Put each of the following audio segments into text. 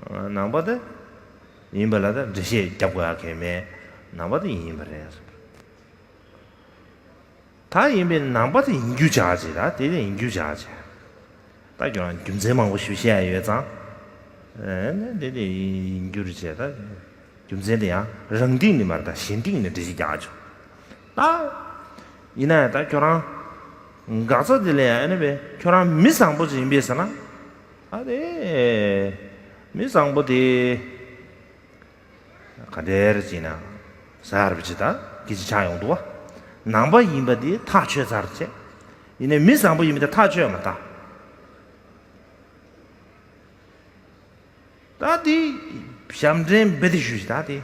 ནང་པ་དང་ཡིན་པ་ལ་དང་འགྲེལ་བཤད་རྒྱབ་དགོས་ཨ་ཁེ་མེད་ནང་པ་དང་ཡིན་པ་རེད་ཟེར། ད་ཡིན་པའི་ནང་པ་དང་ཡིན་རྒྱུ་བྱ་ཅི་ད་དེ་དང་ཡིན་རྒྱུ་བྱ་ཅི། ད་ཁྱོད་རང་རྒྱུ་མཚན་མང་པོ་ཞུ་བཤད་ཡོད་ཙང། ཨེ་དེ་དེ་ཡིན་རྒྱུ་རེད་ཅེ་ད་རྒྱུ་མཚན་དེ་ཡང་རང་སྟེང་ནས་མ་རེད་ད་གཞན་སྟེང་ནས་འགྲེལ་བཤད་རྒྱག་ཆོག་ད། ཡིན་ན་ཡང་ད་ཁྱོད་རང་འགག་རྩ་དེ་ལས་ཨེ་ནས་པས་ཁྱོད་རང་མི་བཟང་པོ་ཅིག་ཡིན་པས་ཟེར་ན། ཨ་རེ། མི་བཟང་པོ་དེ། ག་དེར་ཅིག་ན། ཟར་བྱེད་ད་ཀི་ཅིག་ཆགས་ཡོང་འདུག་བ། ནང་པ་ཡིན་པ་དེ་ཐག་ཆོད་ཟར་བྱེད། ཡིན་ནའི་མི་བཟང་པོ་ཡིན་པ་དེ་ཐག་ཆོད་མ་ད། ད་དེ། ཞབས་འདྲེན་བེད་ཞུ་བྱེད་ད་དེ།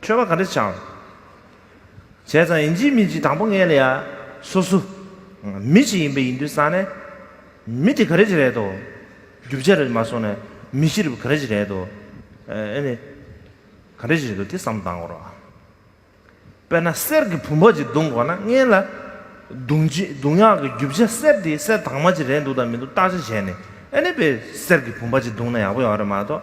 འཕྲོས་པ་ག་རེ་བྱང། བྱས་ཙང་ཡིན་གཅིག་མིན་གཅིག་དང་པོ་ངས་ལ་ཡ། སོ་སོ། མི་གཅིག་ཡིན་པས་ཡིན་དུས་སང་ནས། མི་དེ་ག་རེ་གཅིག་རེད་དོ། རྒྱུ་བྱས་རེད་མ་སོང་ནས། མི་གཅིག་རེད་པ་ག་རེ་གཅིག་རེད་དོ། ཨེ་ནི། ག་རེ་གཅིག་རེད་དོ་དེ་བསམ་བཏང་གོ་རོགས། དཔེར་ན་གསེར་གྱི་བུམ་པ་གཅིག་བརྡུང་གོ་ན་ངས་ལ། བརྡུང་བྱེད་བརྡུང་ཡག་གི་རྒྱུ་བྱས་གསེར་དེ་གསེར་དྭངས་མ་གཅིག་རེད་འདུག་དང་མི་འདུག་བརྟག་དཔྱད་བྱས་ནས་ཨེ་ནི་དཔེ་གསེར་གྱི་བུམ་པ་གཅིག་བརྡུང་ན་ཡག་པོ་ཡོང་བ་རེད་མ་གཏོགས།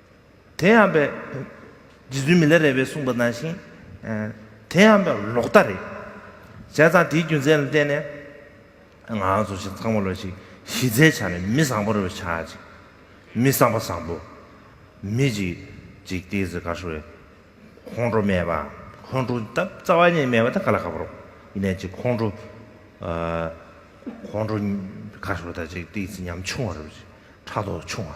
དེ་ཡང་པའི། རྗེ་བཙུན་མི་ལ་རས་པས་གསུངས་པ་ནང་བཞིན། དེ་ཡང་པའི་ལོག་ལྟ་རེད། བྱས་ཙང་དེའི་རྒྱུ་མཚན་ལ་བརྟེན་ནས། ང་ཚོ་ཞིག་ཚང་མ་ལ་ཞིག་གཞི་རྩའི་ཆ་ནས་མི་བཟང་པོ་རེ་བ་ཆགས་ཅིག། མི་བཟང་པ་བཟང་པོ། མི་འཇིགས་འཇིགས་ཏི་ཟི་ག་ཧྲུལ། ཁོང་ཁྲོ་མེད་པ། ཁོང་ཁྲོ་ད་རྩ་བ་ཉིད་མེད་པ་ད་ག་ལ་ག་པར་རོ། ཡིན་ནས་ཅིག་ཁོང་ཁྲོ། ཁོང་ཁྲོ་ག་ཧྲུལ་ད་ཅིག་ཏི་ཟི་ཉམ་ཆུང་བ་རེ་བ་ཅིག་ཕྲག་དོག་ཆུང་བ།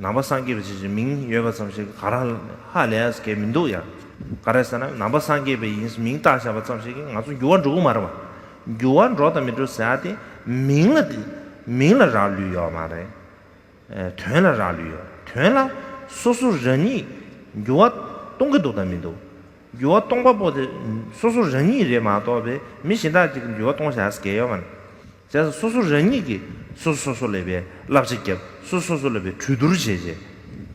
ནང་པ་སངས་རྒྱས་པའི་ཆེད་ཀྱི་མིང་ཡོད་པ་ཙམ་ཞིག་ག་རང་ཧ་ལས་གལ་མི་འདུག་ཡང། ག་རེ་ཟེར་ན་ནང་པ་སངས་རྒྱས་པའི་ཡིན་ཟེར་མིང་བཏགས་བཞག་པ་ཙམ་ཞིག་གིས་ང་ཚོ་འགྱུར་བ་འགྲོ་གི་མ་རེད་བ། འགྱུར་བ་འགྲོ་དང་མི་འགྲོ་ཟེར་དེ་མིང་ལ། མིང་ལ་རག་ལུས་ཡོད་མ་རེད། དོན་ལ་རག་ལུས་ཡོད། དོན་ལ། སོ་སོ་རང་ཉིད་འགྱུར་བ་གཏོང་གི་འདུག་དང་མི་འདུག། འགྱུར་བ་གཏོང་པ་པོ་དེ་སོ་སོ་རང་ཉིད་རེད་མ་གཏོགས་པའི་མི་གཞན་དག་ཅིག་གིས་འགྱུར་བ་གཏོང་བཞག་ཟེར་གལ་ཡོད་མ་རེད། རྫས་སོ་སོ་རང་ཉིད་ཀྱིས་སོ་སོ་སོ་ལས་པའི་བསླབ་བྱ་བརྒྱབ་སོ་སོ་སོ་ལས་པའི་གྲོས་བསྡུར་བྱས་རྗེས།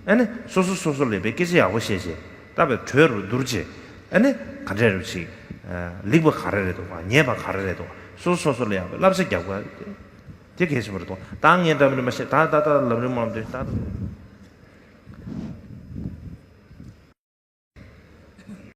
ཨ་ནི་སོ་སོ་སོ་སོ་ལས་པའི་སྐད་ཆ་ཡག་པོ་བཤད་རྗེས་བཏབ་པའི་གྲོས་རུ་བསྡུར་རྗེས། ཨ་ནི་ག་འདྲས་རེད་ཤིག། ལེགས་པ་ག་རེ་རེད་འདུག་ཉེས་པ་ག་རེ་རེད་འདུག་སོ་སོ་སོ་སོ་ལས་ཡག་པའི་བསླབ་བྱ་བརྒྱབ་དགོས་དེ་གལ་ཆེན་པོ་རེད་འདུག་ད་ངས་འདྲ་མིན་མ་བཤད་ད་ད་ལྟ་ལམ་རིམ་མང་དུས་ད།